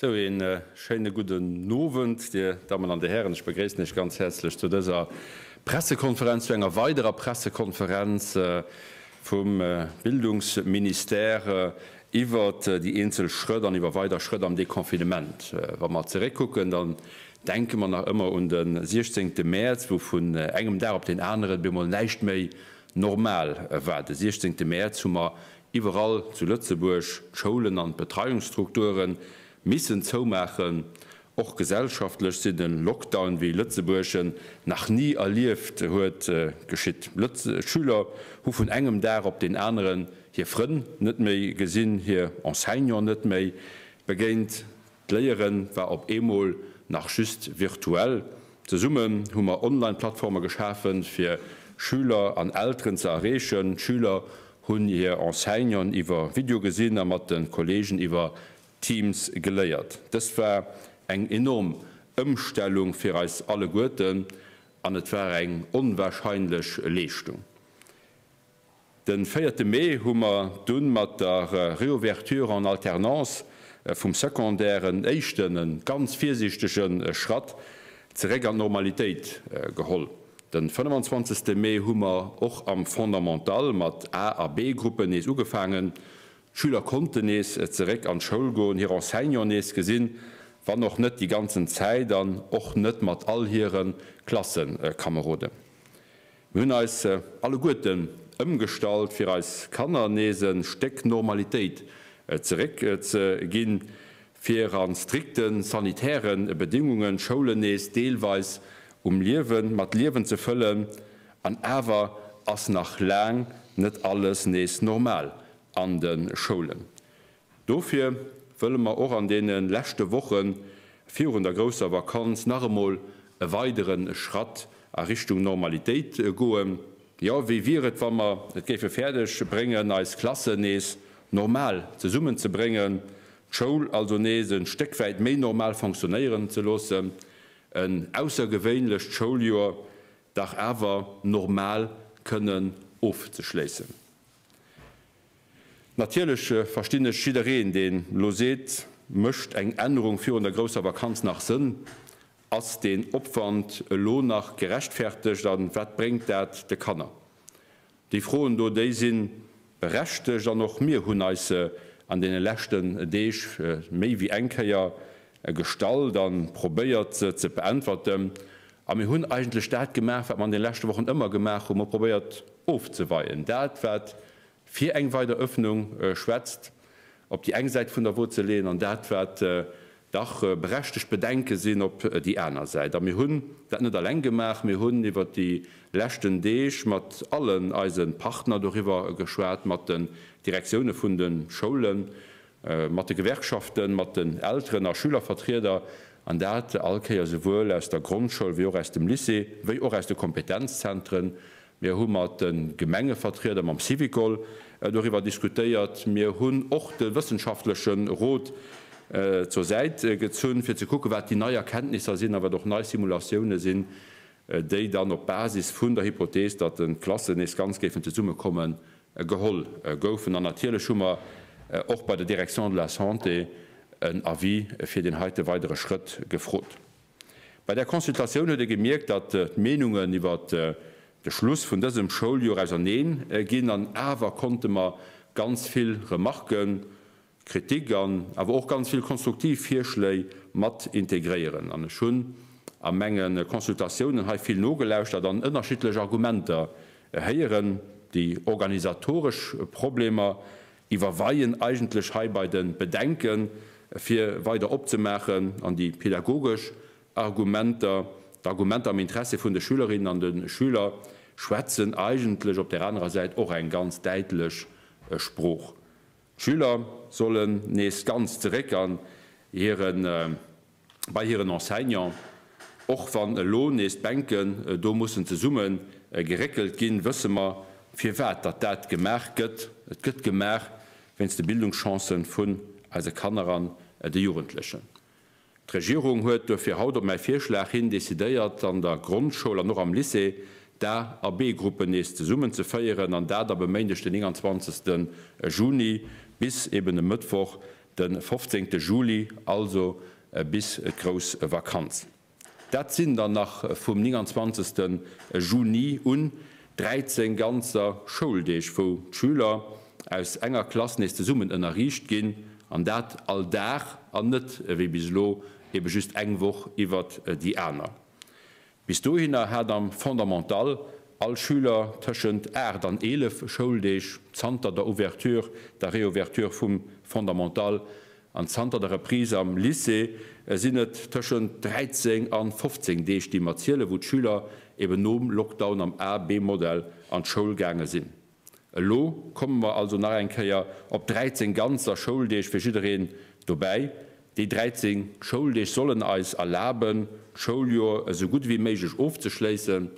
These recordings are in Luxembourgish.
Sou, een schéinen gudden Owend, dir Dammen an dir Hären. Ech begréissen iech ganz häerzlech zu dëser Pressekonferenz, zu enger weiderer Pressekonferenz vum Bildungsministère iwwert déi eenzel Schrëtt an iwwer weider Schrëtt am Deconfinement. Wa mer zeréckkucken, dann denke mer nach ëmmer un den 16 Mäerz, wou vun engem Dag op deen aneren op eemol näischt méi normal war. De 16 Mäerz hu mer Iwwerall zu Lëtzebuerg, d'Schoulen an d'Betreiungsstrukture missen zoumaachen. Och gesellschaftlech sinn e Lockdown, wéi Lëtzebuerg en nach ni erlieft huet, geschitt. D'Schüler hu vun engem Dag op deen aneren hir Frënn net méi gesinn, hir Enseignant net méi begéint. D'Léiere war op eemol nach just virtuell. Zesummen hu mer Online-Plattforme geschafe fir Schüler an Elteren ze erreechen. D'Schüler hunn hir Enseignanten iwwer Video gesinn a mat de Kolleegen iwwer Teams geléiert. Dëst war eng enorm Ëmstellung fir eis alleguerten an et war eng onwahrscheinlech Leeschtung. Den véierte Mee hu mer dunn mat der Réouverture en alternance vum Secondaire en éischten, en ganz virsiichtegen Schratt zeréck an d'Normalitéit geholl. Den 25 Mee hu mer och am Fondamental mat A a B-Gruppen nees ugefaangen. D'Schüler konnten nees zeréck an d'Schoul goen, hir Enseignant nees gesinn, wann och net déi ganzen Zäit an och net mat all hiren Klassenkameroden. Mir hunn eis alleguerten ëmgestallt, fir eis Kanner nees e Stéck Normalitéit zeréck ze ginn, fir a strikte sanitäre Bedéngungen d'Schoulen nees deelweis um Liewen, mat Liewen ze fëllen. An awer ass nach laang net alles nees normal an de Schoulen. Dofir wëlle mer och an deene leschte Woche virun der grousser Vakanz nach emol e weidere Schratt a Richtung Normalitéit goen. Jo, wéi wier et, wa mer et géife fäerdeg bréngen, eis Klassen nees normal zesummen ze bréngen, d'Schoul also nees e Stéck wäit méi normal fonctionnéieren ze loossen, en aussergewéinlecht Schouljoer dach awer normal kënnen ofzeschléissen? Natierlech verstinn ech jiddereen, deen elo seet, Mécht eng Ännerung virun der grousser Vakanz nach Sënn? Ass deen Opwand elo nach gerechtfertegt a wat bréngt dat de Kanner? Déi Froen do, déi si berechtegt an och mir hunn eis an deene leschten Deeg méi wéi eng Kéier e gestallt an probéiert se ze beäntwerten. A mir hunn eigentlech dat gemaach, wat mer an den leschte Wochen ëmmer gemaach hunn, mer hu probéiert ofzeweien, dat wat fir eng weider Öffnung schwätzt, op déi eng Säit vun der Wot ze leeën an dat wat dach berechtegt Bedenke sinn, op déi aner Säit. A mir hunn dat net alleng gemaach, mir hunn iwwert déi leschten Deeg mat allen eise Partner doriwwer geschwat, mat den Direktioune vun de Schoulen, mat de Gewerkschaften, mat den Elteren a Schülervertrieder, an dat all Kéiers esouwuel aus der Grondschoul wéi och aus dem Lycée, wéi och aus de Kompetenzzentren. Mir hu mat de Gemengevertrieder, mam Syvicol doriwwer diskutéiert. Mir hunn och de wëssenschaftleche Rot zur Säit gezunn, fir ze kucken, wat déi nei Erkenntnisser sinn a wat och nei Simulatioune sinn, déi dann op Basis vun der Hypothees, datt d'Klassen nees ganz géifen zesummekommen, geholl goufen. An natierlech hu mer och bei der Direction de la Santé en Avis fir deen heite weidere Schrëtt gefrot. Bei där Consultatioun huet ee gemierkt, datt d'Meenungen iwwert de Schluss vun dësem Schouljoer auserneen ginn, an awer konnte mer ganz vill Remarquë Kritik an awer och ganz vill konstruktiv Virschléi mat integréieren. An ech hunn a menge Consultatiounen hei vill nogelauschtert an ënnerschiddlech Argumenter héieren. Déi organisatoresch Problemer iwwerweien eigentlech hei bei de Bedenke fir weider opzemaachen an déi pädagogesch Argumenter, d'Argumenter am Interessi vun de Schülerinnen an de Schüler schwätzen eigentlech op där anerer Säit och eng ganz däitlech Sprooch. D'Schüler sollen nees ganz zeréck an hire bei hiren Enseignant. Och wann elo nees d'Bänken do mussen zesumme geréckelt ginn, wësse mer firwat datt dat gemaach gëtt, et gëtt gemaach wéinst de Bildungschancen vun eise Kanner an de Jugendlechen. D'Regierung huet duerfir haut op mäi Virschlag hin decidéiert, an der Grondschoul an och am Lycée d'A a B-Gruppen nees zesummen ze féieren, an dat ab e Méindeg den 29 Juni bis eben e Mëttwoch de 15 Juli, also bis d'grouss Vakanz. Dat sinn dann nach vum 29 Juni un 13 ganzer Schouldeeg wou d'Schüler aus enger Klass nees zesummen ënnerriicht ginn, an dat all Dag an net ewéi bis elo ebe just eng Woch iwwert déi aner. Bis dohinner hat am Fondamental all Schüler tëschent 8 an 11 Schouldeeg zanter der Ouverture, der Reouverture vum Fondamental An zanter der Reprise am Lycée sinn et tëschent 13 a 15 Deeg, déi mer zielen, wou d'Schüler eben nom Lockdown am A-B-Modell an d'Schoul gaange sinn. Elo komme mer also nach eng Kéier op 13 ganzer Schouldeeg fir jiddereen dobäi. Déi 13 Schouldeeg sollen eis erlaben, d'Schouljoer esou gutt ewéi méiglech ofzeschléissen.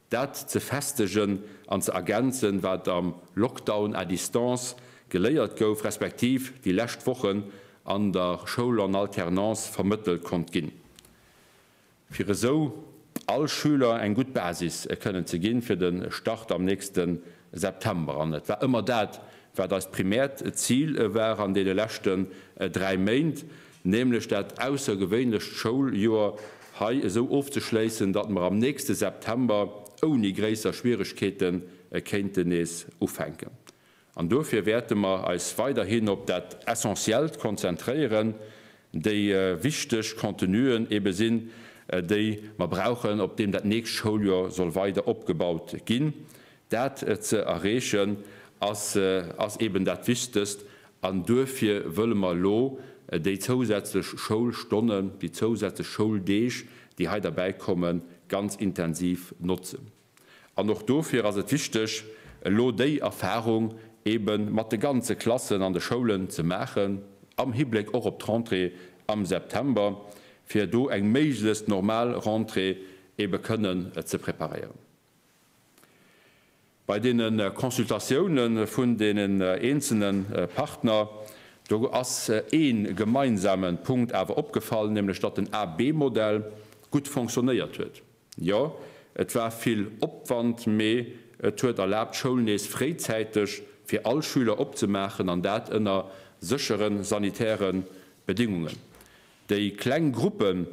Dat ze festegen an ze ergänzen, wat am Lockdown à distance geléiert gouf, respektiv déi lescht Wochen an der Schoul en alternance vermëttelt konnt ginn, fir esou all Schüler eng gutt Basis kënnen ze ginn fir de Start am nächste September. An et war ëmmer dat, wat eist primäert Zil war an deene leschten dräi Méint, nämlech dat aussergewéinlecht Schouljoer hei esou ofzeschléissen, datt mer am nächste September ouni gréisser Schwieregkeete kéinten nees ufänken. An dofir wäerte mer eis weiderhin op dat Essentiellt konzentréieren, déi wichteg Contenuen ebe sinn, déi mer brauchen, op deem dat nächst Schouljoer soll weider opgebaut ginn, Dat ze erreechen ass ass eben dat Wichtegst an duerfir wëlle mer elo déi zousätzlech Schoulstonnen, déi zousätzlech Schouldeeg, déi hei derbäi kommen, ganz intensiv notzen. An och dofir ass et wichteg, elo déi Erfahrung eben mat de ganze Klassen an de Schoulen ze maachen, am Hibléck och op d'Rentrée am September, fir do eng méiglechst normal Rentrée ebe kënnen ze preparéieren. Bei deene Consultatioune vun deenen eenzelne Partner, do ass ee gemeinsame Punkt awer opgefall, nämlech datt den A-B-Modell gutt fonctionnéiert huet. Jo, et war vill Opwand, mee et huet erlaabt, d'Schoul nees fréizäiteg fir all Schüler opzemaachen, an dat ënner séchere sanitäre Bedingungen. Déi kleng Gruppen,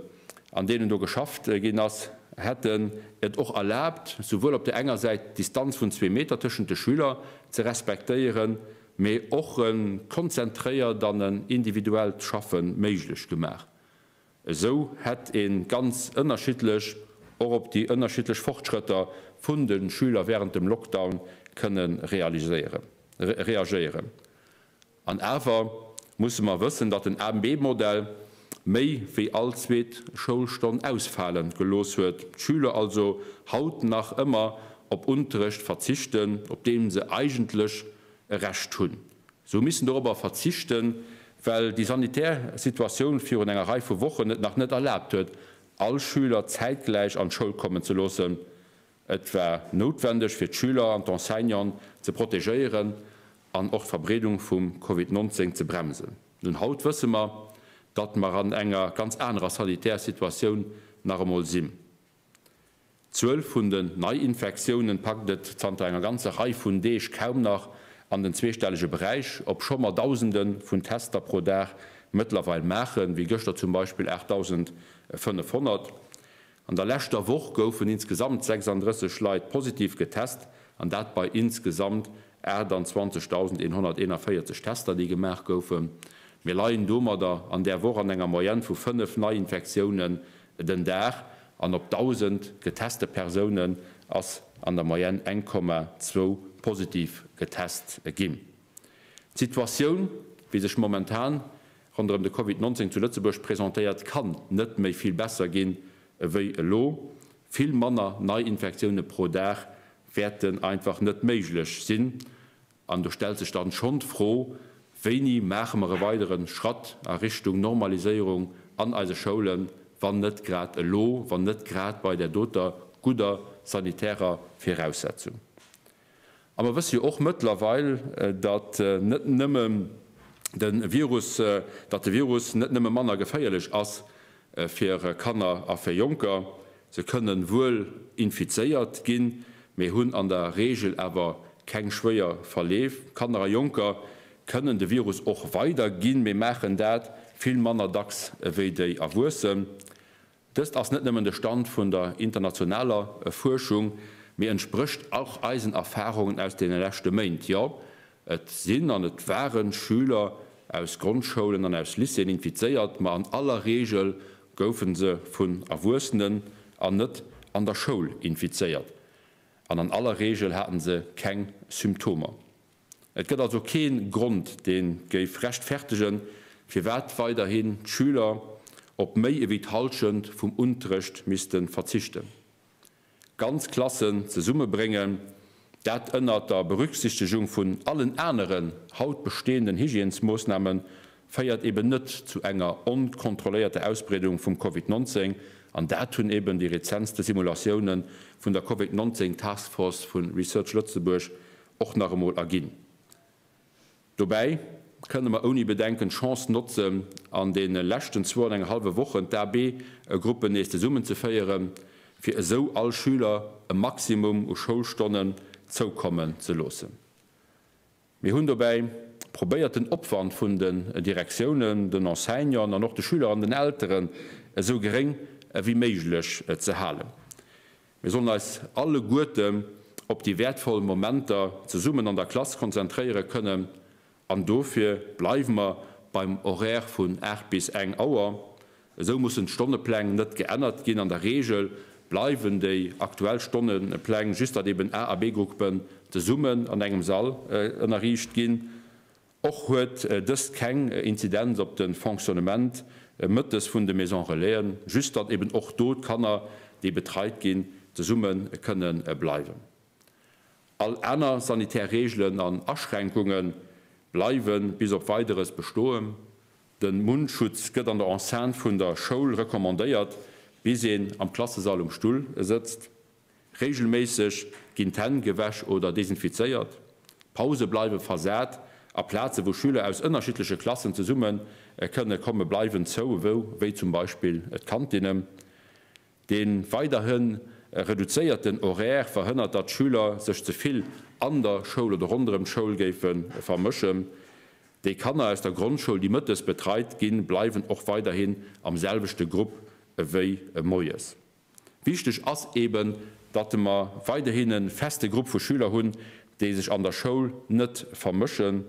an deenen do geschafft ginn ass, hätten et och erlaabt, souwuel op där enger Säit d'Distanz vun zwee Meter tëschent de Schüler ze respektéieren, mee och e konzentréiert an en individuellt Schaffe méiglech gemaach. Esou hätt ee ganz ënnerschiddlech och op déi ënnerschiddlech Fortschrëtter vun de Schüler wärend dem Lockdown kënne reagéieren. An awer musse mer wëssen, datt den AMB-Modell méi wéi all zweet Schoulstonn ausfale gelooss huet, d'Schüler also haut nach ëmmer op Unterrecht verzichten, op dee se eigentlech e Recht hunn. Se hu missen dorobber verzichten, well déi sanitär Situatioun virun enger Rei vu Wochen et nach net erlaabt huet, all Schüler zäitgläich an d'Schoul kommen ze loossen, Et war noutwendeg fir d'Schüler an d'Enseignanten ze protegéieren an och d'Verbreedung vum Covid 19 ze bremsen. Nun haut wësse mer, datt mer an enger ganz anerer sanitärer Situatioun nach emol sinn. D'Zuel vun den Neiinfektiounen packt et zanter enger ganzer Rei vun Deeg kaum nach an den zweestellege Beräich, obscho mer Dausende vun Tester pro Dag mëttlerweil maachen, wéi gëschter zum Beispill 8.500. An der leschter Woch goufen insgesamt 36 Leit positiv getest, an dat bei insgesamt 28.141 Tester, déi gemaach goufen. Mir leien domadder an där Woch an enger Moyenne vu 5 Neiinfektiounen den Dag an op 1.000 geteste Persounen ass an der Moyenne eng Komma zwou positiv getest ginn. D'Situatioun, wéi sech momentan ronderëm de Covid 19 zu Lëtzebuerg presentéiert, kann net méi vill besser ginn ewéi elo. Vill manner Neiinfektioune pro Dag wäerten einfach net méiglech sinn. An do stellt sech dann schonn d'Fro, Wéini maache mer e weidere Schratt a Richtung Normaliséierung an eise Schoulen, wann net grad elo, wann net grad bei där doter gudder sanitärer Viraussetzung? A mer wësse jo och mëttlerweil, datt net nëmme de Virus, datt de Virus net nëmme manner geféierlech ass fir Kanner a fir Jonker. Se kënnen wuel infizéiert ginn, mee hunn an der Reegel awer keng schwéier Verleef. Kanner a Jonker kënnen de Virus och weiderginn, mee maachen dat vill manner dacks ewéi déi Erwuessen. Dëst ass net nëmmen de Stand vun der internationaler Fuerschung, mee entsprécht och eisen Erfarungen aus deene leschte Méint. Jo, et sinn an et ware Schüler aus Grondschoulen an aus Lycéeën infizéiert, ma an aller Reegel goufe se vun Erwuessenen an net an der Schoul infizéiert an an aller Reegel hate se keng Symptomer. Et gëtt also kee Grond, dee géif rechtfertegen, firwat weiderhin d'Schüler op méi ewéi d'Hallschent vum Unterrecht misste verzichten. Ganz Klassen zesummebréngen, dat ënnert der Berücksichtigung vun allen aneren haut bestehenden Hygiènesmoossnahmen, féiert eben net zu enger onkontrolléierter Ausbreedung vum Covid 19, an dat hunn eben déi rezentste Simulatioune vun der Covid 19 Taskforce vu Research Lëtzebuerg och nach emol erginn. Dobäi kënne mer ouni Bedenken d'Chance notzen, an deene leschten zwou an eng hallwe Wochen d'AB-Gruppen nees zesummenzeféieren, fir esou all Schüler e Maximum u Schoulstonnen zoukommen ze loossen. Mir hunn dobäi probéiert, den Opwand vun den Direktiounen, den Enseignanten an och de Schüler an den Elteren esou geréng ewéi méiglech ze halen. Mir sollen eis alleguerten op déi wäertvoll Momenter zesummen an der Klass konzentréiere kënnen an dofir bleiwe mer beim Horaire vun 8 bis eng Auer. Esou mussen d'Stonnepläng net geännert ginn. An der Reegel bleiwen déi aktuell Stonnepläng, just datt eben A a B-Gruppen zesummen an engem Sall ënnerriicht ginn Och huet dëst keng Inzidenz op de Fonctionnement mëttes vun de Maison Relaisen, just datt eben och do d'Kanner, déi betreit ginn, zesumme kënne bleiwen. All aner sanitär Reegelen an Aschränkunge bleiwe bis op Weideres bestoen. De Mundschutz gëtt an der Enceinte vun der Schoul recommandéiert, bis een am Klassesall um Stull sëtzt. Reegelméisseg ginn d'Hänn gewäsch oder desinfizéiert. Pause bleiwe versat a Plaze wou Schüler aus ënnerschiddleche Klassen zesumme kënne komme bleiwen zou, wéi zum Beispill d'Kantine. De weiderhi reduzéierten Horaire verhënnert datt Schüler sech ze vill an der Schoul oder ronderëm d'Schoul géife vermëschen. Déi Kanner aus der Grondschoul déi mëttes betreit ginn bleiwen och weiderhin am selwechte Grupp ewéi moies. Wichteg ass eben, datt mer weiderhin e feste Grupp vu Schüler hunn, déi sech an der Schoul net vermëschen.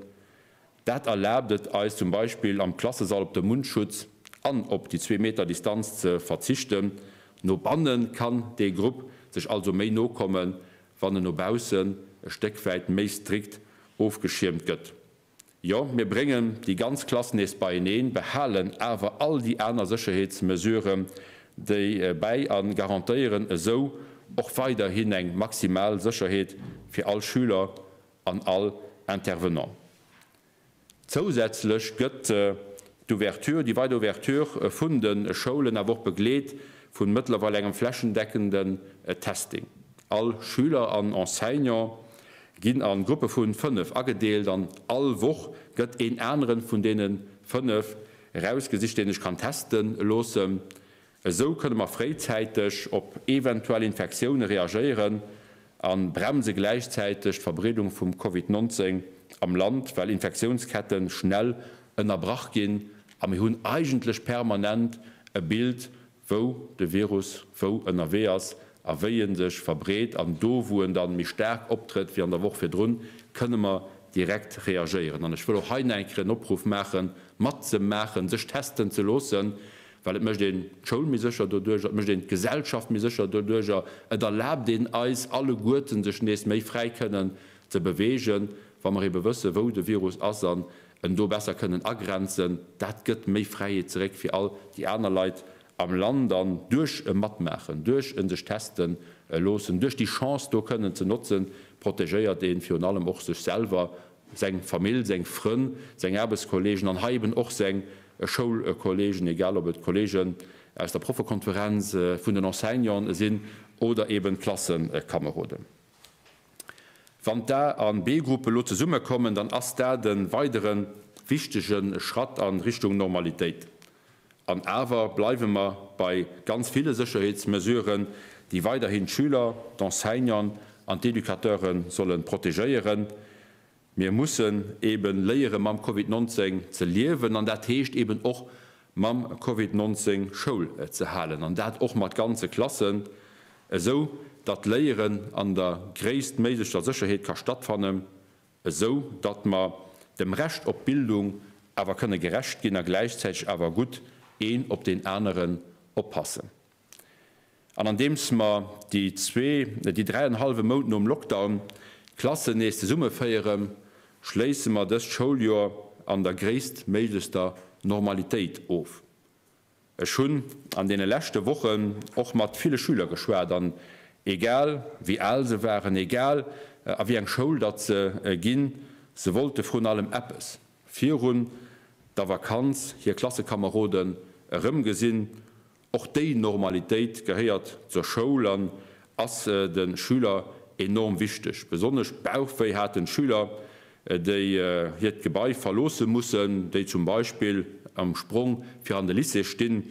Dat erlaabt et eis zum Beispill am Klassesall op de Mundschutz an op déi zwee Meter Distanz ze verzichten. No banne kann dee Grupp sech also méi no kommen, wann en no baussen e Stéck wäit méi strikt ofgeschiermt gëtt. Jo, mir bréngen déi ganz Klass nees beieneen, behalen awer all déi aner Sécherheetsmesuren déi bäi a garantéieren esou och weiderhin eng maximal Sécherheet fir all Schüler an all Intervenant. Zousätzlech gëtt d'Ouverture, déi weider Ouverture vun de Schoulen awer och begleet vu mëttlerweil engem flächendeckenden Testing. All Schüler an Enseignant ginn an Gruppe vun 5 agedeelt an all Woch gëtt een aneren vun deenen 5 erausgesicht deen sech kann testen loossen. Esou kënne mer fréizäiteg op eventuell Infektioune reagéieren an bremse gläichzäiteg d'Verbreedung vum Covid 19 am Land, well Infektiounsketten schnell ënnerbrach ginn a mir hunn eigentlech permanent e Bild wou de Virus wou ënnerwee ass a wéi e sech verbreet, an do wou en da méi staark optrëtt wéi an der Woch virdrun, kënne mer direkt reagéieren. An ech wëll och hei nach eng Kéier en Opruff maache matzemaachen, sech testen ze loossen, well et mécht een d'Schoul méi sécher doduerjer, et mécht een d'Gesellschaft méi sécher doduerjer, et erlaabt een eis alleguerten sech nees méi fräi kënnen ze beweegen, wa mer eebe wësse wou de Virus ass an en do besser kënnen agrenzen, dat gëtt méi Fräiheet zeréck fir all déi aner Leit am Land an duerch e Matmaachen, duerch e sech teste loossen, duerch déi Chance do kënnen ze notzen, protegéiert ee virun allem och sech selwer, seng Famill, seng Frënn, seng Aarbechtskolleegen an hei eben och seng Schoulkolleegen, egal ob et d'Kolleegen aus der Proffekonferenz, vun den Enseignanten sinn oder eben d'Klasseskameroden. Wann d'A an B-Gruppe elo zesumme kommen, dann ass dat e weidere wichtege Schratt a Richtung Normalitéit. An awer bleiwe mer bei ganz ville Sécherheetsmesuren, déi weiderhin d'Schüler, d'Enseignanten an d'Educateure solle protegéieren. Mir mussen eben léieren mam Covid 19 ze liewen an dat heescht eben och mam Covid 19 Schoul ze halen an dat och mat ganze Klassen, esou datt d'Léieren an der gréisstméiglecher Sécherheet ka stattfannen, esou datt mer dem Recht op Bildung awer kënne gerecht ginn a gläichzäiteg awer gutt een op deen aneren oppassen. An andeems mer déi zwee, nee, déi dräi an e hallwe Mount nom Lockdown d'Klassen nees zesummeféieren, schléisse mer dëst Schouljoer an der gréisstméiglechster Normalitéit of. Ech hunn an deene leschte Wochen och mat ville Schüler geschwat an egal wéi al se waren, egal a wéi eng Schoul datt se ginn, se wollte vrun allem eppes, virun der Vakanz hir Klassekameroden erëmgesinn Och déi Normalitéit gehéiert zur Schoul an ass de Schüler enorm wichteg. Besonnesch Bauchwéi haten d'Schüler, déi hiert Gebai verloosse mussen, déi zum Beispill am Sprong fir an de Lycée stinn.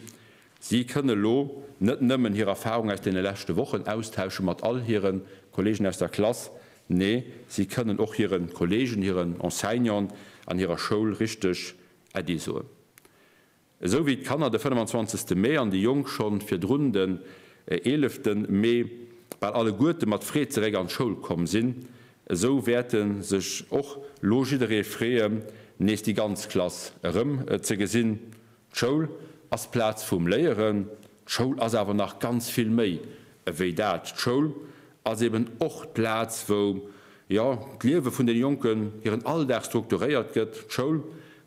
Si kënne lo net nëmmen hir Erfarung aus deene leschte Wochen austausche mat all hire Kolleegen aus der Klass, nee si kënnen och hire Kolleegen, hiren Enseignanten an hirer Schoul richteg Äddi soen. Esou wéi d'Kanner de 25 Mee an déi Jonk schonn virdrun den 11 Mee bal alleguerte mat Freed zeréck an d'Schoul komm sinn, esou wäerte sech och lo jidderee freeën, nees déi ganz Klass erëm ze gesinn. D'Schoul ass d'Plaz vum Léieren, d'Schoul ass awer nach ganz vill méi ewéi dat. D'Schoul ass eben och d'Plaz, wou, jo, d'Liewe vun deene Jonken, hiren Alldag strukturéiert gëtt. D'Schoul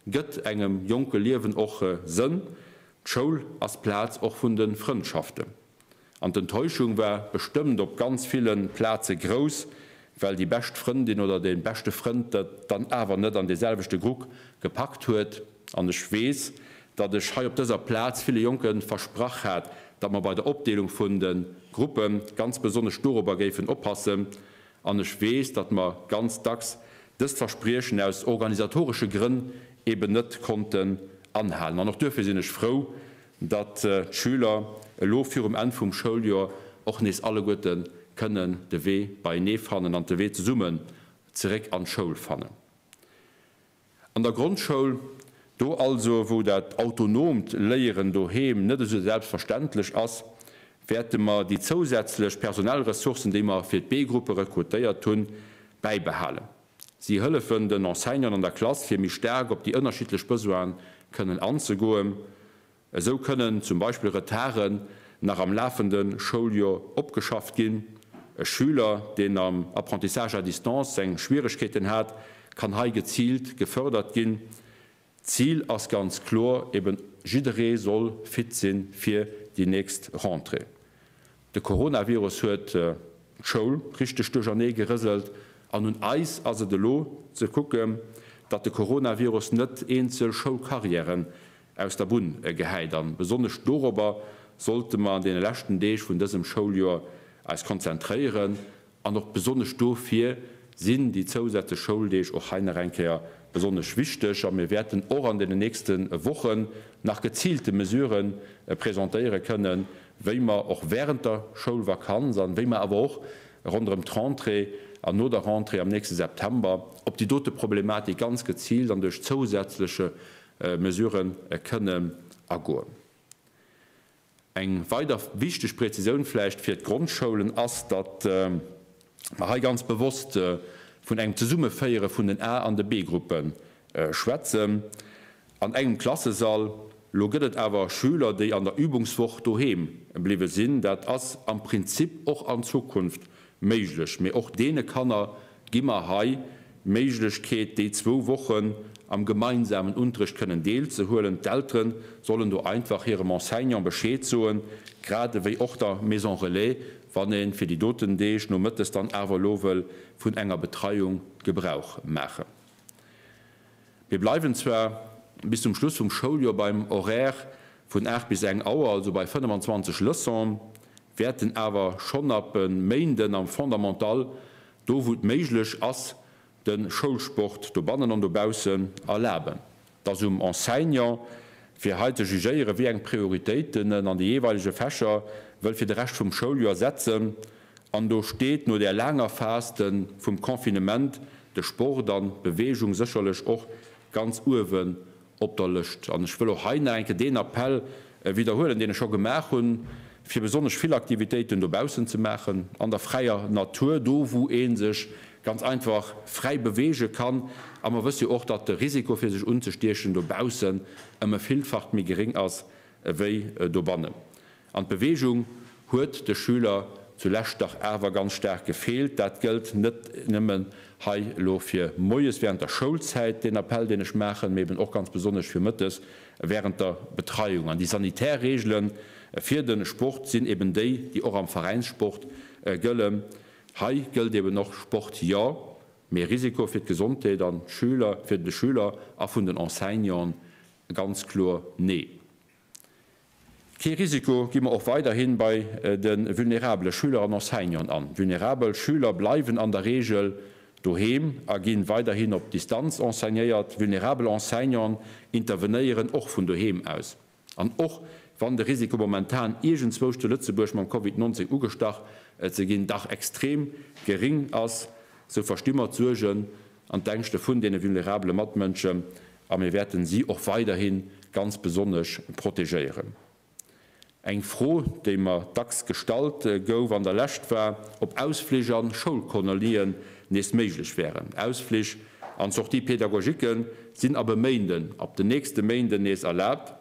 Gëtt engem jonke Liewen och Sënn, d'Schoul ass d'Plaz och vun de Frëndschaften. An d'Enttäuschung war bestëmmt op ganz ville Plaze grouss, well déi bescht Frëndin oder dee beschte Frënd et dann awer net an dee selwechte Grupp gepackt huet. An ech weess, datt ech hei op dëser Plaz ville Jonke versprach hat, datt mer bei der Opdeelung vun de Gruppe ganz besonnesch dorobber géifen oppassen, An ech weess, datt mer ganz dacks dëst Verspriechen aus organisatoresche Grënn eben net konnten anhalen. An och duerfir sinn ech frou, datt d'Schüler elo virum Enn vum Schouljoer och nees alleguerte kënnen de Wee beienee fannen an de Wee zesummen zeréck an d'Schoul fannen. An der Grondschoul, do also wou dat autonoomt Léieren doheem net esou selbstverständlech ass, wäerte mer déi zousätzlech personell Ressourcen, déi mer fir d'B-Gruppe rekrutéiert hunn, bäibehalen. Si hëllefen den Enseignanten an der Klass fir méi staark op déi ënnerschiddlech Besoine kënnen anzegoen Esou kënnen zum Beispill Retarden nach am lafende Schouljoer opgeschafft ginn. E Schüler, deen am Apprentissage à distance seng Schwieregkeeten hat, kann hei geziilt gefërdert ginn. D'Zil ass ganz kloer eben, jidderee soll fit sinn fir déi nächst Rentrée. De Coronavirus huet d'Schoul richteg duerchernee gerëselt an un eis ass et elo ze kucken, datt de Coronavirus net eenzel Schoulcarrièren aus der Bunn gehäit. A besonnesch dorobber sollte mer an deene leschten Deeg vun dësem Schouljoer eis konzentréieren. An och besonnesch dofir sinn déi zousätzlech Schouldeeg och hei nach eng Kéier besonnesch wichteg. A mir wäerten och an deenen nächste Wochen nach geziilte Mesurë presentéiere kënnen, wéi mer och während der Schoulvakanz an wéi mer awer och ronderëm d'Rentrée an no der Rentrée am nächste September op déi dote Problematik ganz geziilt an duerch zousätzleche Mesurë kënnen agoen. Eng weider wichteg Präzisioun vläicht fir d'Grondschoulen ass, datt mer hei ganz bewosst vun engem Zesummeféiere vun den A an de B-Gruppe schwätzen an engem Klassesall. Lo gëtt et awer Schüler, déi an der Übungswoch doheem bliwwe sinn. Dat ass am Prinzip och an Zukunft Méiglech, mee och deene Kanner gi mer hei d'Méiglechkeet, déi zwou Wochen am gemeinsamen Unterrecht kënnen deelzehuelen. D'Eltere sollen do einfach hirem Enseignant Bescheed soen, grad ewéi och der Maison Relais, wann ee fir déi doten Deeg nomëttes dann awer elo wëll vun enger Betreiung Gebrauch maachen. Mir bleiwen zwar bis zum Schluss vum Schouljoer beim Horaire vun 8 bis eng Auer, also bei 25 Leçons, wäerten awer schonn ab e Méinden am Fondamental, do wou et méiglech ass, de Schoulsport dobannen an dobaussen erlaben. Et ass um Enseignant, fir hei ze jugéieren, wéi eng Prioritéiten en an de jeeweilege Fächer wëll fir de Rescht vum Schouljoer setzen. An do steet no där laanger Faste vum Confinement de Sport an d'Beweegung sécherlech och ganz uewen op der Lëscht. An ech wëll och hei nach eng Kéier deen Appell widderhuelen, deen ech scho gemaach hunn, fir besonnesch vill Aktivitéiten dobaussen ze maachen, an der fräier Natur, do wou ee sech ganz einfach fräi beweege kann. A mer wësse jo och, datt de Risiko fir sech unzestiechen dobaussen ëm e Villfacht méi geréng ass ewéi dobannen. An d'Beweegung huet de Schüler zu Lescht dach awer ganz staark gefeelt. Dat gëllt net nëmmen hei elo fir moies während der Schoulzäit, deen Appell, deen ech maachen, mee eben och ganz besonnesch fir mëttes während der Betreiung. An déi sanitär Reegele fir de Sport sinn eben déi, déi och am Veräinssport gëllen. Hei gëllt eben och, Sport jo, mee Risiko fir d'Gesondheet an d'Schüler, fir de Schüler a vun den Enseignanten ganz kloer nee. Kee Risiko gi mer och weiderhin bei de vulnerabele Schüler an Enseignanten an. Vulnerabel Schüler bleiwen an der Reegel doheem a ginn weiderhin op Distanz enseignéiert. Vulnerabel Enseignanten intervenéieren och vun doheem aus. An och wann de Risiko momentan iergendzwousch zu Lëtzebuerg mam Covid 19 ugestach ze ginn dach extrem geréng ass, sou versti mer d'Suergen, an d'Ängschte vun deene vulnerabele Matmënschen a mir wäerten si och weiderhi ganz besonnesch protegéieren. Eng Fro, déi mer dacks gestallt gouf an der Lescht, war, ob Ausflich a Schoulkolonien nees méiglech wären. Ausflich an Sorties pédagogiques sinn ab e Méinden, ab den nächste Méinden nees erlaabt.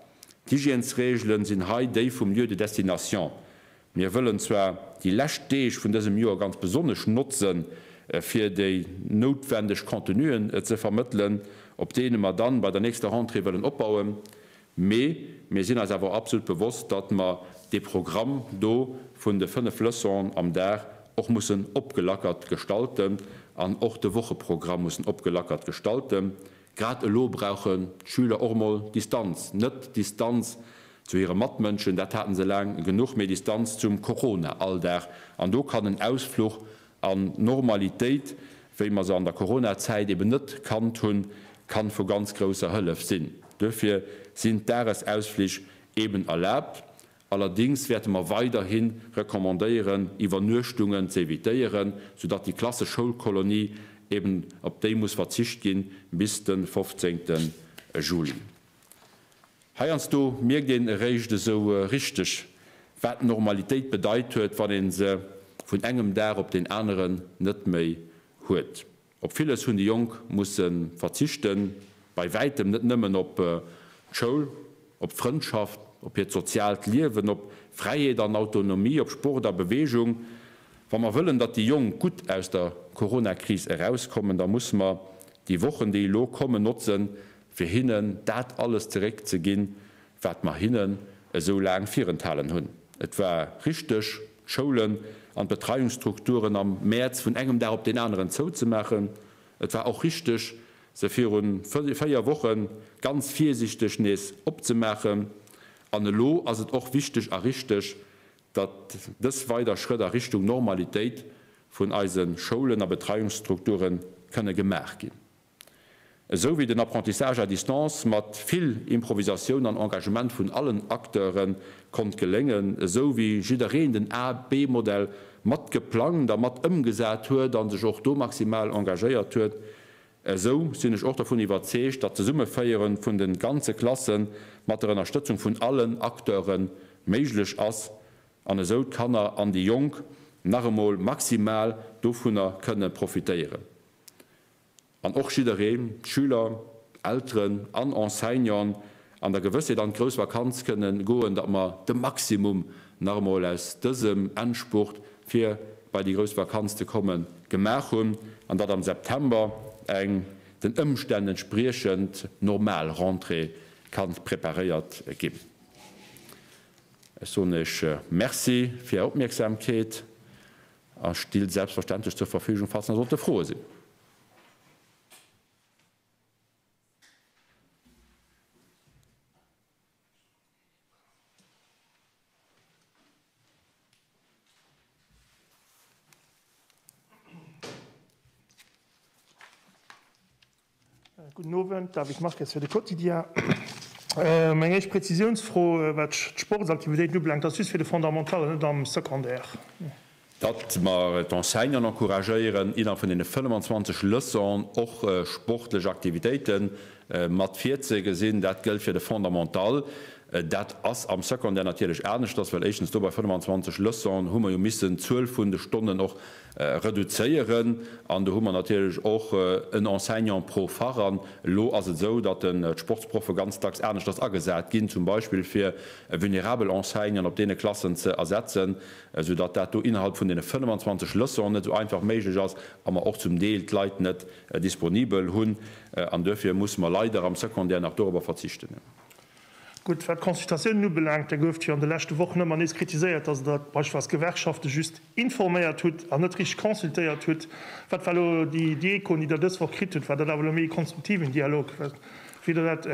D'Hygiènesreegelen sinn hei déi vum Lieu de destination, Mir wëllen zwar déi lescht Deeg vun dësem Joer ganz besonnesch notzen, fir déi noutwendeg Contenuen ze vermëttelen, op deene mer dann bei der nächster Rentrée wëllen opbauen, mee mir sinn eis awer och absolut bewosst, datt mer dee Programm do vun de fënnef Leçonen am Dag och mussen opgelackert gestalten an och de Wocheprogramm mussen opgelackert gestalten. Grad elo brauchen d'Schüler och mol Distanz, net Distanz zu hire Matmënschen, dat haten se laang genuch, mee Distanz zum Corona-Alldag. An do kann en Ausfluch an d'Normalitéit, wéi mer se an der Corona-Zäit eben net kannt hunn, kann vu ganz grousser Hëllef sinn. Duerfir sinn d'Dagesausflich eben erlaabt Allerdings wäerte mer weiderhi recommandéieren, Iwwernuechtungen ze evitéieren, soudatt déi klassesch Schoulkolonie eben op déi muss verzicht ginn bis de 15. Juli. Heiansdo mierkt een eréischt esou richteg, wat Normalitéit bedeit huet, wann ee se vun engem Dag op deen aneren net méi huet. Op villes hunn déi Jonk musse verzichten, bei wäitem net nëmmen op d'Schoul, op d'Frëndschaft, op hiert soziaalt Liewen, op Fräiheet an Autonomie, op Sport a Beweegung. Wa mer wëllen, datt déi Jonk gutt aus der Coronakris erauskommen, da musse mer déi Wochen, déi elo kommen, notzen, fir hinnen dat alles zeréck ze ginn, wat mer hinnen esou laang virenthalen hunn. Et war richteg. d'Schoulen an d'Betreiungsstrukturen am Mäerz vun engem Dag op deen aneren zouzemaachen. Et war och richteg, se viru véier Woche ganz virsiichteg nees opzemaachen. An elo ass et och wichteg a richteg, datt dës weider Schrëtt a Richtung Normalitéit vun eise Schoulen a Betreiungsstrukture kënne gemaach ginn. esou wéi den Apprentissage à distance mat vill Improvisatioun an Engagement vun allen Acteuren konnt geléngen, esou wéi jiddereen den A-B-Modell mat geplangt a mat ëmgesat huet an sech och do maximal engagéiert huet, esou sinn ech och dervun iwwerzeegt, datt d'Zesummeféieren vun den ganze Klassen mat der Ënnerstëtzung vun allen Acteuren méiglech ass an esou d'Kanner an déi Jonk nach emol maximal dovunner kënne profitéieren. an och jidderee, Schüler, Elteren an Enseignant, an der Gewëssheet an d'grouss Vakanz kënne goen, datt mer de Maximum nach emol aus dësem Endspurt, fir bei déi grouss Vakanz ze kommen, gemaach hunn an datt am September eng den Ëmstänn entspriechend normal Rentrée ka preparéiert ginn. Ech soen Iech Merci fir Är Opmierksamkeet. A still selbstverständlech zur Verfügung, falls nach sollte Froe sinn. Gudden Owend, David Marques fir de Quotidien. Meng éischt Prezisiounsfro, wat d'Sportsaktivitéiten ubelaangt, ass just fir de Fondamental an net am Secondaire. Datt mer d'Enseignanten encouragéieren, innerhalb vun deene 25 Leçonen och sportlech Aktivitéiten mat virzegesinn, dat gëllt fir de Fondamental. Dat ass am Secondaire natierlech aneschters, well éischtens do bei 25 Leçonen hu mer jo missen d'Zuel vun de Stonnen och reduzéieren an do hu mer natierlech och en Enseignant pro Fach. An elo ass et esou, datt d'Sportsproffe ganz dacks aneschters agesat ginn, zum Beispill fir vulnerabel Enseignanten op deene Klassen ze ersetzen, soudatt dat do innerhalb vun deene 25 Leçonen net esou einfach méiglech ass a mer och zum Deel d'Leit net disponibel hunn. An duerfir musse mer leider am Secondaire nach dorobber verzichten. Gutt, wat d'Consultatiounen ubelaangt, da gouft jo an de leschte Wochen ëmmer nees kritiséiert, dass Der beispillsweis d'Gewerkschafte just informéiert hutt an net richteg consultéiert hutt. Wat war elo déi déi Echoen, déi Der dës Woch kritt hutt? War dat awer elo méi e konstruktiven Dialog? Wéi hutt Der dat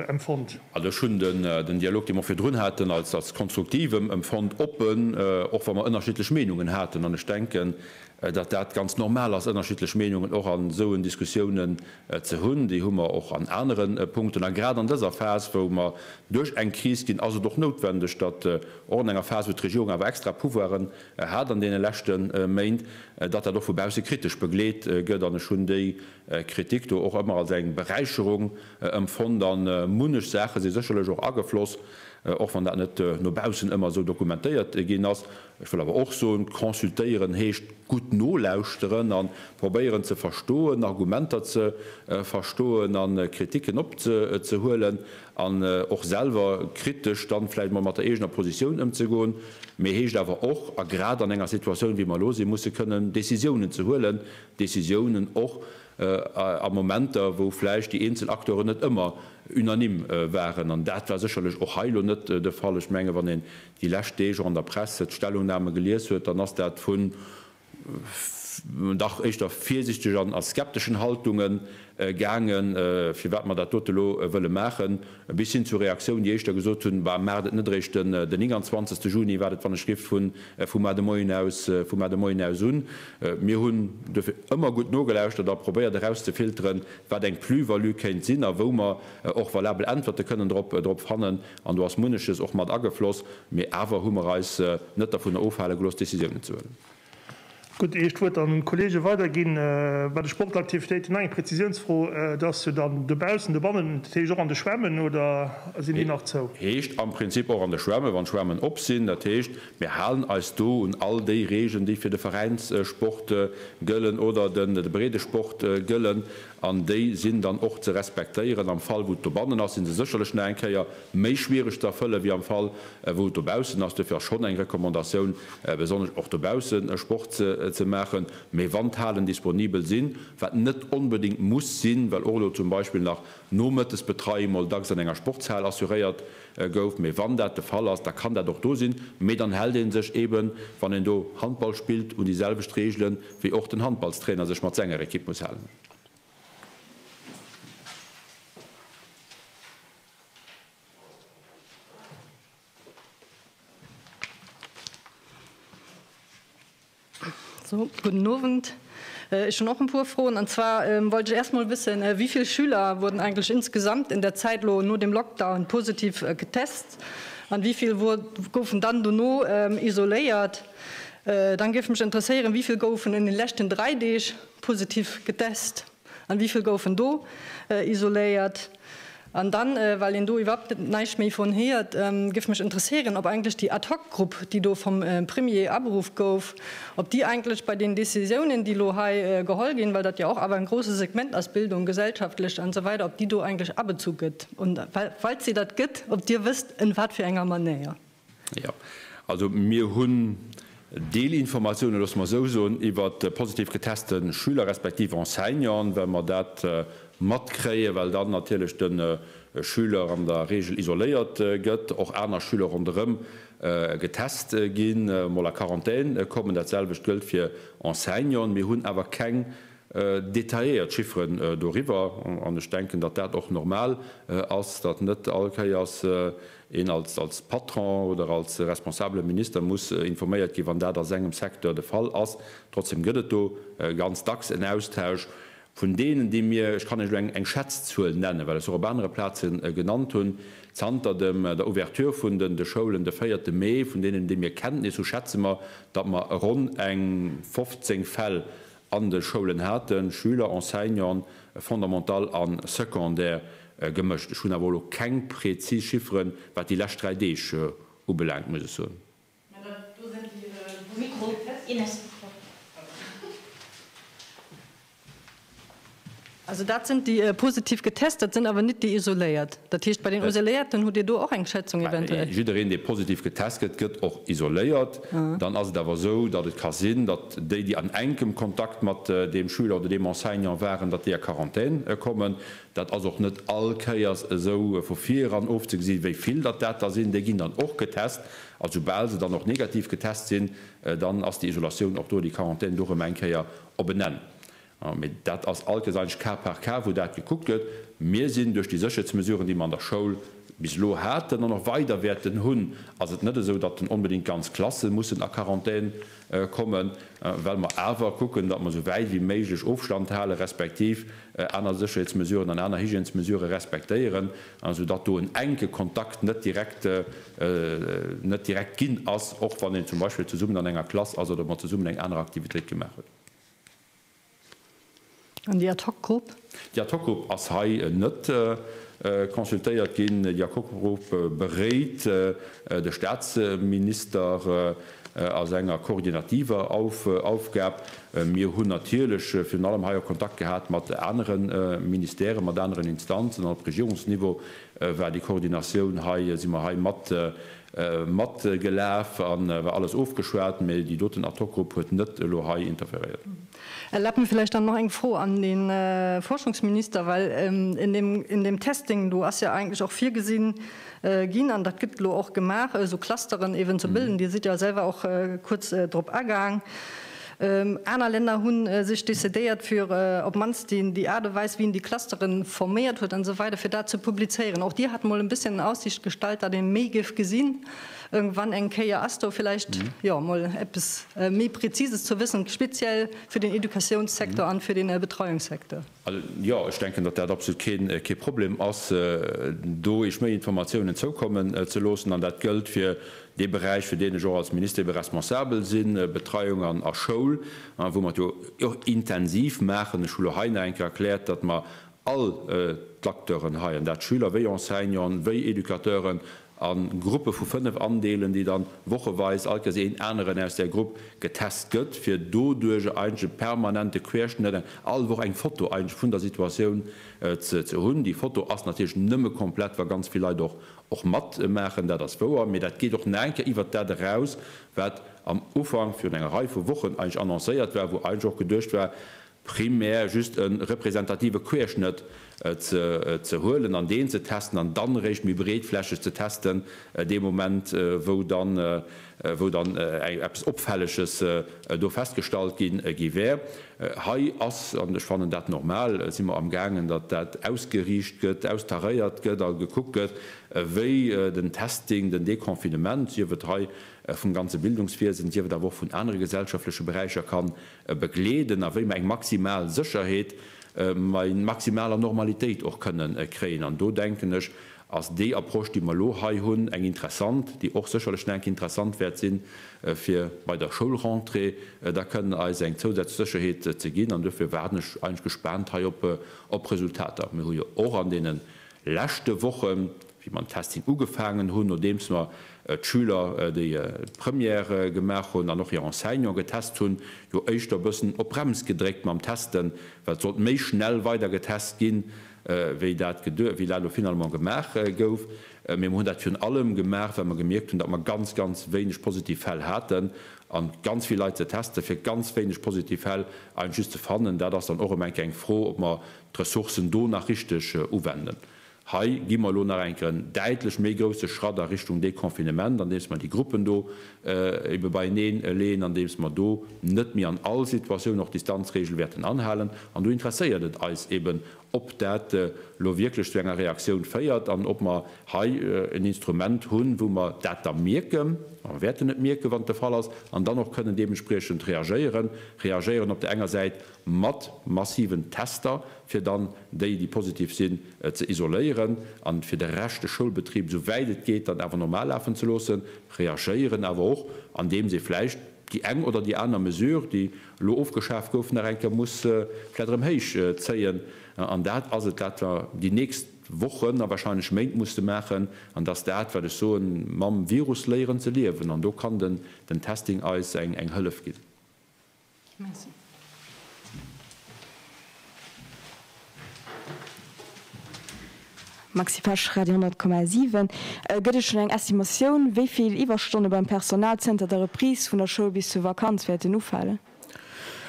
empfonnt? Also ech hunn den Dialog, dee mer virdrun haten, als als konstruktiv empfonnt, oppen, och wa mer ënnerschiddlech Meinungen haten. An ech denken, datt dat ganz normal ass, ënnerschiddlech Meinungen och an esou en Diskussiounen ze hunn, déi hu mer och an anere Punkten. A grad an dëser Phas, wou mer duerch eng Kris ginn, ass et och noutwendeg, datt och an enger Phas, wou d'Regierung awer extra Pouvoiren hat an deene leschte Méint, datt dat och vu bausse kritesch begleet gëtt. An ech hunn déi Kritik do och ëmmer als eng Beräicherung empfonnt. A munnech Saache si sécherlech och agefloss, och wann dat net no baussen ëmmer esou dokumentéiert ginn ass, Ech wëll awer och soen, consultéieren heescht gutt nolauschteren a probéieren ze verstoen, Argumenter ze verstoen a Kritiken opzehuelen an och selwer kritesch dann vläicht emol mat der eegener Positioun ëmzegoen. Mee heescht awer och, a grad an enger Situatioun wéi mer elo sinn, musse kënnen Décisiounen ze huelen, Décisiounen och a Momenter, wou vläicht déi eenzel Acteuren net ëmmer unanime waren. An dat war sécherlech och hei elo net de Fall. Ech menge wann een déi lescht Deeg och an der Presse d'Stellungname gelies huet, dann ass dat vu dach éischter virsichtegen a skepteschen Haltunge gaange firwat mer dat dote elo wëlle maachen, bis hin zu Reaktioun, déi éischter gesot hunn, Bah, maacht et net eréischt den 29 Juni, wat et wann ech rifft vun vum Mar de Moien aus vum Mar de Moien aus un. Mir hunn duerfir ëmmer gutt nogelauschtert a probéiert erauszefilteren, wat eng Plus-value kéint sinn a wou mer och valabel Äntwerte kënnen drop drop fannen. An do ass munneches och mat agefloss, mee awer hu mer eis net dervun ofhale gelooss, Décisiounen ze huelen. Gutt, ier ech d'Wuert dann un d'Kollege weiderginn, Bei de Sportaktivitéiten nach eng Prezisiounsfro, Et ass jo dann dobaussen, dobannen, dat heescht och an de Schwämmen, oder sinn déi nach zou? Heescht am Prinzip och an de Schwämmen, wann d'Schwämmen op sinn. Dat heescht, mir halen eis do un all déi Regeln, déi fir de Veräinssport gëllen oder de Breedesport gëllen. An déi sinn dann och ze respektéieren. Am Fall, wou et dobannen ass, si se sécherlech nach eng Kéier méi schwiereg ze erfëllen, wéi am Fall, wou et dobaussen ass. Duerfir ass schonn eng Recommandatioun, besonnesch och dobausse Sport ze maachen. Mee wann d'Halen disponibel sinn, wat net onbedéngt muss sinn, well och elo zum Beispill nach Nomëttes d'Betreiung mol dacks an enger Sportshal assuréiert Gouf, mee wann dat de Fall ass, da kann dat och do sinn, mee dann hält ee sech eeben, wann een do Handball spillt, un déi selwecht Reegelen, wéi och den Handballstrainer sech mat senger Ekipp muss halen. Sou, gudden Owend. Ech hunn och en puer Froen. An zwar wollt ech äerst mol wëssen, wéi vill Schüler wurden eigentlech insgesamt in der Zäit elo no dem Lockdown positiv getest an wéi vill goufen dann dono isoléiert? Dann géif mech interesséieren, wéi vill goufen an den leschten 3 Deeg positiv getest? An wéi vill goufen do isoléiert? An dann, well een do iwwerhapt näischt méi von héiert, géif mech interesséieren, ob eigentlech déi Ad hoc Grupp, déi do vom Premier aberuff gouf, ob déi eigentlech bei den Décisiounen, déi elo hei geholl ginn, well dat jo och awer en grosse Segment ass, Bildung, gesellschaftlecht an esou weider, ob déi do eigentlech abezu gëtt? Und falls déi dat gëtt, ob Dir wësst en wat fir enger Manéier? Jo, also mir hunn Deelinformatiounen, loosse mer esou soen, iwwer positiv geteste Schüler respektiv Enseignanten, well mer dat matkréien, well dann natierlech de Schüler an der Reegel isoléiert gëtt, och aner Schüler ronderëm getest ginn, mol a Quarantän kommen. Dat selwecht gëllt fir Enseignanten. Mir hunn awer keng detailléiert Chifferen doriwwer. An ech denken, datt dat och normal ass, datt net all Kéiers Een als Patron oder als responsabele Minister muss informéiert ginn, wann dat a sengem Secteur de Fall ass. Trotzdeem gëtt et do ganz dacks en Austausch vun deenen, déi mir, ech kann Iech elo eng Schätzzuel nennen, well ech se och op anere Plaze genannt hunn, zanter der Ouverture vun de Schoulen de véierte Mee, vun deenen, déi mir Kenntnis hu schätze mer, datt mer ronn eng 15 Fäll An de Schoulen hate Schüler, Enseignanten, Fondamental a Secondaire gemëscht. Ech hunn awer elo keng präzis Chifferen, wat déi lescht dräi Deeg ubelaangt, muss ech soen. Also dat sinn déi positiv getest, dat sinn awer net déi isoléiert. Dat heescht, bei den Isoléierten hutt Dir do och eng Schätzung eventuell? Jiddereen, dee positiv getest gëtt, gëtt och isoléiert. Dann ass et awer esou, datt et ka sinn, datt déi, déi an enkem Kontakt mat deem Schüler oder deem Enseignant waren, datt déi a Quarantän kommen. Dat ass och net all Kéiers esou vu vireran ofzegesi wéi vill datt dat der sinn. Déi ginn dann och getest a soubal se dann och negativ getest sinn, dann ass déi Isolatioun och do, déi Quarantän do erëm eng Kéier op en Enn. Mee dat ass alkes eigentlech cas par cas, wou dat gekuckt gëtt. Mir sinn duerch déi Sécherheetsmesuren, déi mer an der Schoul bis elo haten an och weider wäerten hunn, ass et net esou, datt dann onbedéngt ganz Klasse mussen a Quarantän kommen, well mer awer kucken, datt mer esou wäit wéi méiglech Ofstand halen, respektiv aner Sécherheetsmesuren an aner Hygiènesmesurë respektéieren, esou datt do en enke Kontakt net direkt net direkt ginn ass, och wann een zum Beispill zesummen an enger Klass ass oder mat zesummen eng aner Aktivitéit gemaach huet. An déi Ad-hoc-Grupp? Déi Ad-hoc-Grupp ass hei net consultéiert ginn. Déi Ad-hoc-Grupp beréit de Staatsminister a senger koordinativer Aufgab. Mir hunn natierlech virun allem hei och Kontakt gehat mat anere Ministèren, mat aneren Instanzen. An op Regierungsniveau war déi Koordinatioun hei, si mer hei mat Matgelaf a war alles ofgeschwat, mä déi doten Ad-hoc-Grupp huet net elo hei interferéiert. Erlaabt mir vläicht dann nach eng Fro an de Forschungsminister, well en deem Testing do ass jo eigentlech och virgesinn ginn, an dat gëtt elo och gemaach, esou Clusteren eeben ze bilden. Dir sidd jo selwer och kuerz drop agaang. Aner Länner hunn sech decidéiert fir op mannst déi déi Aart a Weis wéi een déi Clusteren forméiert huet an esou weider fir dat ze publizéieren. Och Dir hat mol en bësschen an Aussicht gestallt dat een méi géif gesinn ëgwann eng Kéier. Ass do villäicht jo mol eppes méi Präzises ze wëssen speziell fir den Educatiounssektor an fir den Betreiungssecteur? Jo, ech denken, datt dat absolut kee Problem ass, do iech méi Informatiounen zoukommen ze loossen. An dat gëllt fir dee Beräich, fir deen ech och als Minister ebe responsabel sinn, Betreiung a Schoul, wou mer et jo och intensiv maachen. Ech hu lo hei nach eng Kéier erkläert, datt mer all d'Acteuren hei, an dat Schüler wéi Enseignanten, wéi Educateuren, a Gruppe vu 5 andeelen, déi dann wocheweis alt Kess een aneren aus där Grupp getest gëtt, fir doduerjer eigentlech e permanente Querschnëtt, all Woch eng Foto eigentlech vun der Situatioun ze hunn. Déi Foto ass natierlech nëmme komplett, wa ganz vill Leit och och matmaachen, dat ass wouer, mee dat geet och nach eng Kéier iwwert dat eraus, wat am Ufank virun enger Rei vu Wochen eigentlech annoncéiert war, wou eigentlech och geduecht war, primär just e representative Querschnëtt ze huelen an deen ze testen an dann eréischt méi breetflächeg ze testen dee Moment, wou dann eppes Opfälleges do festgestallt gi wär. Hei ass, an ech fannen dat normal, si mer amgaangen, datt dat ausgeriicht gëtt, austaréiert gëtt a gekuckt gëtt, wéi den Testing, den Deconfinement, sief et hei vum ganze Bildungswiesen, sief et awer och vun anere gesellschaftleche Beräicher, kann begleeden a wéi mer eng maximal Sécherheet, mä eng maximaler Normalitéit och kënnen kréien. An do denken ech, ass déi Approche, déi mer elo hei hunn, eng interessant, déi och sécherlech nach eng Kéier interessant wäert sinn, fir bei der Schoulrentrée da kënnen eis eng zousätzlech Sécherheet ze ginn. An duerfir waarden ech eigentlech gespaant hei op Resultater. Mir hu jo och an deene leschte Wochen wéi mer den Testing ugefaangen hunn, nodeems mer d'Schüler, déi d'Première gemaach hunn, an och hir Enseignanten getest hunn, jo éischter e bëssen op d'Brems gedréckt mam Testen, well et sollt méi schnell weider getest ginn, wéi dat elo finalement gemaach gouf. Mee mer hunn dat virun allem gemaach, well mer gemierkt hunn, datt mer ganz, ganz wéineg positiv Fäll haten. A ganz vill Leit ze testen, fir ganz wéineg positiv Fäll einfach just ze fannen, dat ass dann och ëm eng Kéier eng Fro, ob mer d'Ressourcen do nach richteg uwenden. Hei gi mer elo nach eng Kéier en däitlech méi grousse Schratt a Richtung Deconfinement, andeems mer déi Gruppen do ebe beieneen leeën, andeems mer do net méi an all Situatioun och d'Distanzreegel wäerten anhalen. An do interesséiert et eis eben, ob dat elo wierklech zu enger Reaktioun féiert an ob mer hei en Instrument hunn, wou mer dat da mierken, a mer wäerten et mierken, wann et de Fall ass, an dann och kënnen deementspriechend reagéieren, reagéieren op der enger Säit, mat massiven Tester, fir dann déi, déi positiv sinn, ze isoléieren a fir de Rescht de Schoulbetrib esou wäit et geet dann awer normal lafen ze loossen, reagéieren awer och, andeems ee vläicht déi eng oder déi aner Mesure, déi elo ofgeschaaft gouf, nach eng Kéier muss vläicht erëm héich zéien. An dat ass et, wat mer déi nächst Wochen a wahrscheinlech Méint musse maachen. An et ass dat, wat ech soen, mam Virus léieren ze liewen. An do kann den Testing eis eng Hëllef ginn. Maxi Pesch, Radio 10,7. Gëtt et schonn eng Estimatioun, wéi vill Iwwerstonne beim Personal zënter der Reprise vun der Schoul bis zur Vakanz wäerten ufalen?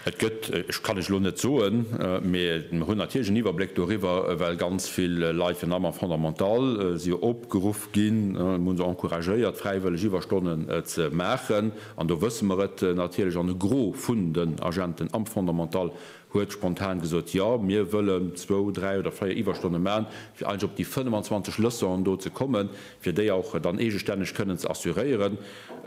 Et gëtt, ech kann lech elo net soen, mee mer hunn natierlech en Iwwerbléck doriwwer, well ganz vill Leit vun der Maman Fondamental si jo opgeruff ginn, mir hunn se encouragéiert, fräiwëlleg Iwwerstonnen ze maachen. An do wësse mer et natierlech. An e Gros vun den Agenten am Fondamental huet spontan gesot, Jo, mir wëllen zwou, dräi oder véier Iwwerstonne man, fir eigentlech op déi 25 Leçonen do ze kommen, fir déi och dann eegestänneg kënnen ze assuréieren.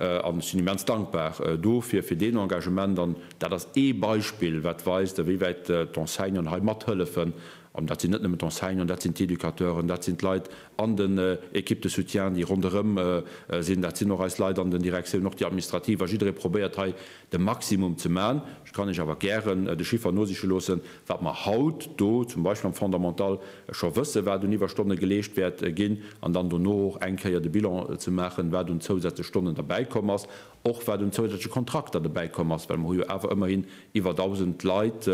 An ech sinn immens dankbar dofir, fir deen Engagement. An dat ass ee Beispill, wat weist, ewéiwäit d'Enseignanten hei mathëllefen. An dat sinn net nëmmen d'Enseignanten, dat sinn d'Educateuren, dat sinn d'Leit an den Equipes de soutien, déi ronderëm sinn, dat sinn och eis Leit an den Direktiounen, och déi administrativ. A jidderee probéiert hei de Maximum ze maachen. Ech kann Iech awer gären de Chiffer nosiche loossen, wat mer haut do zum Beispill am Fondamental scho wëssen, wat un Iwwerstonne geleescht wäert ginn, an dann dono och eng Kéier de Bilan ze maachen, wat un zousätzlech Stonnen derbäikomm ass. Och wat un zousätzleche Kontrakter dobäi komm ass, well mer hu jo awer ëmmerhin iwwer 1.000 Leit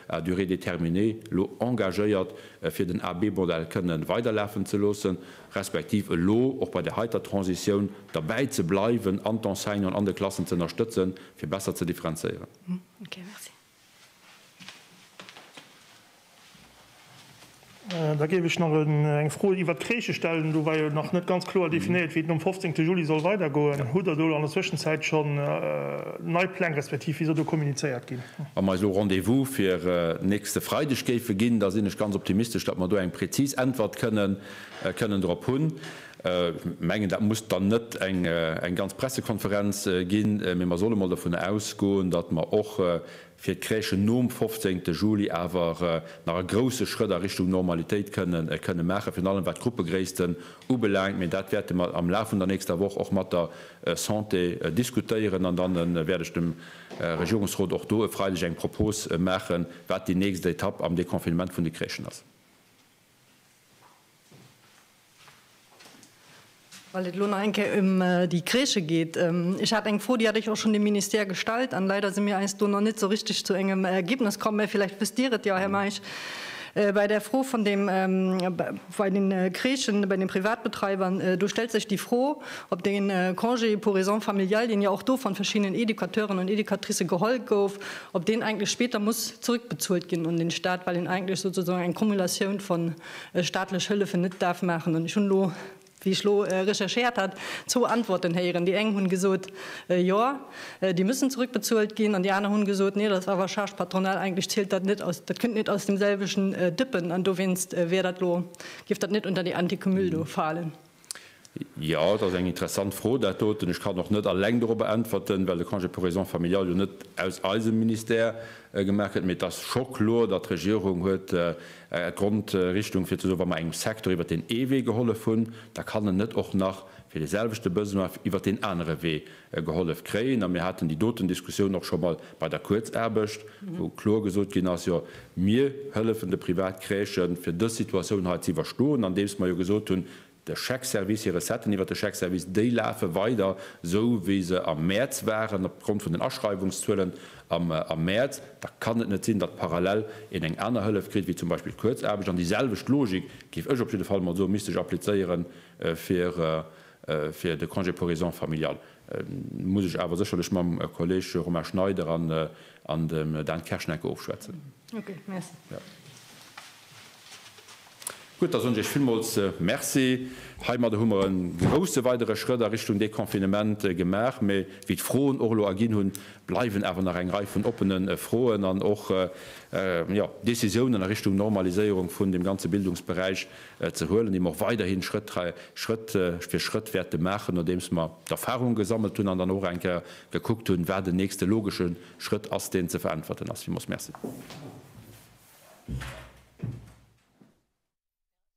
à durée déterminée elo engagéiert, fir den AB-Modell kënnen weiderlafen ze loossen, respektiv elo och bei där heiter Transitioun derbäi ze bleiwen an d'Enseignanten an de Klassen ze ënnerstëtzen, fir besser ze differenzéieren. Da géif ech nach eng Fro iwwert d'Crèche stellen. Do war jo nach net ganz kloer definéiert, wéi et nom 15. Juli soll weidergoen. Hutt Der do an der Zwëschenzäit schonn nei Pläng, respektiv wéi soll do kommunizéiert ginn? Wa mer eis elo Rendez-vous fir nächste Freideg géife ginn, da sinn ech ganz optimistesch, datt mer do eng präzis Äntwert kënnen drop hunn. Ech mengen, dat muss dann net eng ganz Pressekonferenz ginn, mee mer solle mol dovun ausgoen, datt mer och fir d'Crèchen nom 15 Juli awer nach e grouse Schrëtt a Richtung Normalitéit kënne maachen, virun allem wat d'Gruppegréissten ubelaangt. Mee dat wäerte mer am Laf vun der nächster Woch och mat der Santé diskutéieren. An dann wäert ech dem Regierungsrot och do e Freideg eng Propose maachen, wat déi nächst Etapp am Deconfinement vun de Crèchen ass. Well et elo nach eng Kéier ëm déi Crèche geet, Ech hat eng Fro, déi hat ech och schonn dem Ministère gestallt, an leider si mir eis do nach net esou richteg zu engem Ergebnes komm, mä villäicht wësst Dir et jo, Här Meisch, Bei der Fro vun deem, bei den Crèchen, bei den Privatbetreibern, do stellt sech déi Fro, ob dee Congé pour raisons familiales, deen jo och do vun verschiddenen Educateuren an Educatricë geholl gouf, ob deen eigentlech spéter muss zrëckbezuelt ginn un den Stat, well en eigentlech souzesoan eng Cumulatioun vun staatlech Hëllefen net daf maachen. An ech hunn elo, wéi ech elo recherchéiert hat, zwou Antworten héieren. Déi eng hunn gesot, Jo, déi müssen zrückbezuelt ginn. An déi aner hunn gesot, Nee, dat ass awer Charge patronale, eigentlech zielt dat net aus, dat kënnt net aus dem selwechten Dëppen. An dowéinst wär dat elo, géif dat net unter déi Anticumul do falen. Jo, dat ass eng interessant Fro, dat doten. Ech kann och net alleng dorobber äntwerten, well de Congé pour raisons familiales jo net aus eisem Ministère gemaach gëtt. Mee et ass scho kloer, datt d'Regierung huet eng Grondrichtung, fir ze soen, wa mer engem Secteur iwwert deen ee Wee gehollef hunn, da kann en net och nach fir deeselwechte Besoin iwwert deen anere Wee gehollef kréien. A mir haten déi doten Diskussioun och scho mol bei der Kuerzaarbecht, wou kloer gesot ginn ass, jo mir hëllefen de Privatcrèchen, fir dës Situatioun hei ze iwwerstoen, andeems mer jo gesot hunn, de Chèque-service, hir Recetten iwwert de Chèque-service, déi lafe weider esou wéi se am Mäerz waren, opgrond vun den Aschreiwungszuelen am Mäerz. Da kann et net sinn, datt parallel een eng aner Hëllef kritt wéi zum Beispill d'Kuerzaarbecht. An déi selwecht Logik, géif ech op jidde Fall emol soen, misst sech applizéiere fir Fir de Congé pour raisons familiales muss ech awer sécherlech mam Kolleg Romain Schneider an dem Dan Kersch nach eng Kéier ofschwätzen. Okay, merci. Gutt, da soen ech Iech villmools Merci. Heimadder hu mer e grouse weidere Schrëtt a Richtung Deconfinement gemaach, mä wéi d'Froen och elo erginn hunn, bleiwen awer nach eng Rei vun oppene Froen an och Decisiounen a Richtung Normaliséierung vun dem ganze Bildungsberäich, ze huelen, déi mer och weiderhin Schrëtt Schrëtt fir Schrëtt wäerte maachen, nodeems mer d'Erfahrungen gesammelt hunn an dann och eng Kéier gekuckt hunn, wat en nächste logesche Schrëtt ass, deen ze veräntwerten ass. Villmools Merci.